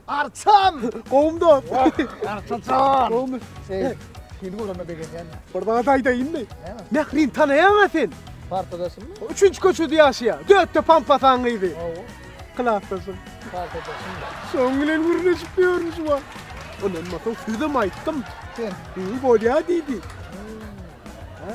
Arçan! Gowum dost. Arçajan. Gowmy? Şey, seni göreme begenýän. Bir zat aýdaýynmy? Mährin tanaýaňa sen. Partadaşymmy? Üçünji köçede ýaşaýa. Dötde pampasaň gyzy. Hawa. Klasdaşym. Partadaşym. Şoň bilen gürleşip ýörmüş wa. Ondan mato sözüm aýtdym. Sen. Ýygy bolýa diýdi. Ha.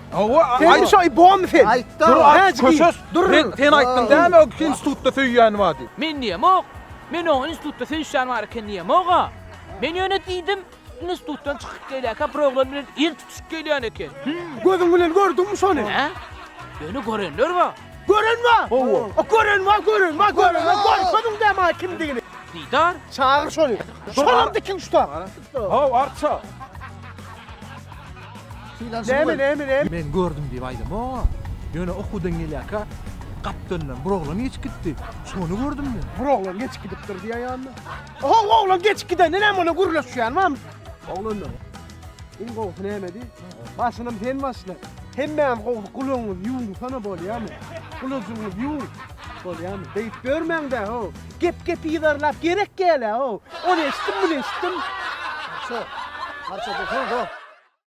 Hawa, sen şo ibom sen. Aýtda, köşes. Dur, sen aýtdyň däl o institutda söýýän bar diýip. Men diýemok. Men o institutda söýüşýän bar eken diýemok-a. Men ýöne diýdim, institutdan çykyp gelýärkä bir oglan bilen el tutuşyp gelýän eken. Gözüň bilen gördüňmi şony? Hä? Ýöne görenler bar. Gören bar? Hawa. O gören bar, gören bar, gören bar. Görkeziň dä maňa kimdigini. Didar, çagyr şony. Şonam dikiň şu tag. Arçakda. Haw, arça. Näme, näme, näme? Men gördüm diýip aýdamok. Ýöne okuwdan gelýärkä gapdalyndan bir oglan geçip gitdi. Şony gördüm men. Bir oglan geçip gidipdir diýýär ýanyna. Haw, oglan geçip gidende näme ola gürleşýän mam? Oglanlar. Iň gowusy nämedi? Başynam sen başla. Hemmäňiz gowusy gulagyňyzy ýuwuňsana bolýamy? Gulajyňyzy ýuwuň. Bolýamy? Beýip ýörmäň-dä, haw. Gep gepi yzarlap gerek gel a o. Ony eşitdim muny eşitdim. Arça arça bu hoo.